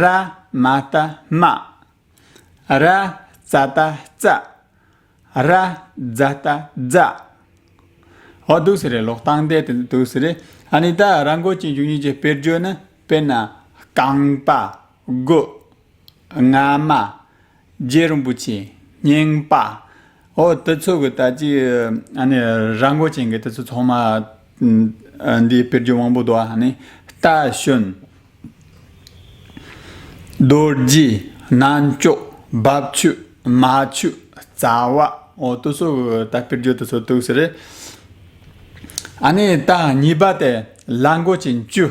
ར་མ་ཏཱ་མ། ར་ཙཱ་ཏཱ་ཙ། ར་ཛཱ་ཏཱ་ཛ། ཨོ་དུ་སི་རེ་ལོག་སྟངས་བདེ་དེ་འདི་དུ་སི་རེ་ཨ་ནི་ད་ར་མགོ་ཅན་བཅུ་གཉིས་ཀྱི་དཔེར་བརྗོད་ནི་དཔེར་ན་རྐང་པ། རྒོད། རྔ་མ། རྗེ་རིན་པོ་ཆེ་རྙིང་པ། ཨོ་དེ་ཚོ་གི་ད་ཅི་ཨ་ནི་ར་མགོ་ཅན་གི་དེ་ཚོ་ཚང་མ་འདི་དཔེར་བརྗོད་དབང་པོ་དོ་ཨ་ནི་རྟ་ཞོན། རྡོ་རྗེ། རྣལ་འབྱོར། རྦབ་ཆུ། མ་ཆུ། རྩ་བ། ཨོ་དེ་ཚོ་གི་ད་དཔེར་བརྗོད་དེ་ཚོ་འདུག་ཟེར། ཨ་ནི་ད་གཉིས་པ་དེ་ལ་མགོ་ཅན་བཅུ།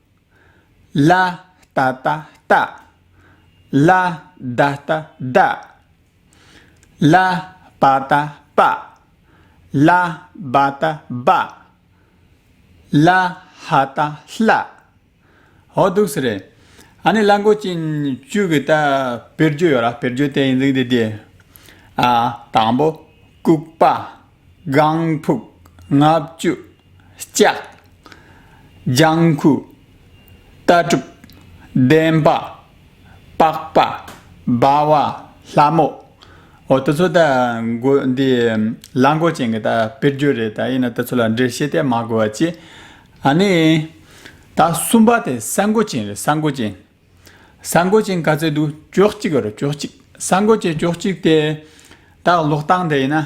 ལ་ཏཱ་ཏཱ་ཏ། ལ་དྭ་ཏཱ་དཱ། ལ་པ་ཏཱ་པ། ལ་བ་ཏཱ་བ། ལ་ཧ་ཏཱ་ལྷ། ཧོ་འདུག་སེ་རེད། ཨ་ནི་གླང་གོག་ཅན་བཅུ་གི་ད་བེར་རྒྱུ་ཡོད་ར་བེར་རྒྱུ་དེ་ཡིན་ཟིག་དེ་དེ། ཨ། དང་པོ། ལྐུགས་པ། སྒང་ཕུག། ལྔ་བཅུ། ལྕགས། ལྗང་ཁུ། ལྟ་གྲུབ། བདེན་པ། པགས་པ། སྦ་བ། ལྷ་མོ། འོ་ད་ཚོད་ལྟ་འགོ་འདི་གླང་གོག་ཅན་གྱི་ད་དཔེར་བརྗོད་རེད་ད་ཡིན་ན་ད་ཚོད་ལ་འགྲེལ་བཤད་དེ་མ་དགོས་བ་ཅི། ཨ་ནི། ད་གསུམ་པ་དེ་ས་འགོ་ཅན་རེད་ས་འགོ་ཅན། ས་འགོ་ཅན་ག་ཚད་འདུག་ཅོག་གཅིག་རེད་ཅོག་གཅིག་ས་འགོ་ཅན་ཅོག་གཅིག་དེ། ད་ལོག་སྟངས་དེ་ཡིན་ན།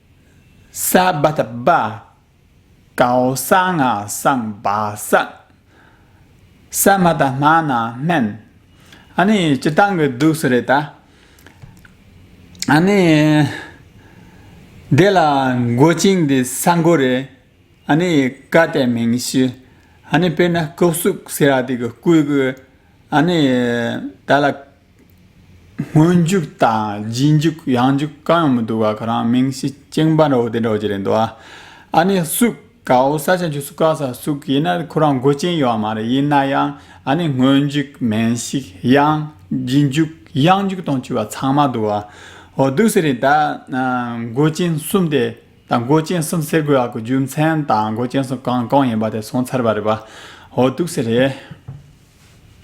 སྭ་བྷཱ་ད་པཱ། ཀའོ་ས་ང་སངས་བ་སངས། ས་མ་ད་སྨ་ན་སྨན། ཨ་ནི་སྤྱི་བཏང་གི་འདུག་སུ་རེད་ད། ཨ་ནི། དེ་ལ་མགོ་ཅིང་དེ་ས་མགོ་རེད། ཨ་ནི་ཀ་ཏའི་མིང་གཞི། ཨ་ནི་དཔེར་ན་སྐུ་གཟུགས་ཟེར་ར་དེ་གི་སྐུའི་གི། ཨ་ནི། དེ་ལ། སྔོན་འཇུག་དང་རྗེས་འཇུག་ཡང་འཇུག་གང་ཡང་མི་འདུག་བ་ག་རང་མིང་ཤི་ཅིང་པ་འདྲ་བོ་དེ་འདྲ་བ་ཅི་རེད་འདུག་བ། ཨ་ནི་སུག་ག་འོ་ས་ཆ་འཇུག་སུག་ག་ས་སུག་ཡིན་ན་ཁོ་རང་མགོ་ཅན་ཡོད་བ་མ་རེད་ཡིན་ན་ཡང་ཨ་ནི་སྔོན་འཇུག་མིང་ཤི་ཡང་རྗེས་འཇུག་ཡང་འཇུག་དང་བཅུ་བ་ཚང་མ་འདུག་བ། འོ་འདུག་ཟེར་རེད་ད། མགོ་ཅན་གསུམ་དེ་དང་མགོ་ཅན་གསུམ་ཟེར་དགོས་བ་གི་རྒྱུ་མཚན་དང་མགོ་ཅན་གསུམ་གང་གང་ཡིན་པ་དེ་གསུངས་ཚར་བ་རེད་བ། འོ་འདུག་ཟེར་རེད།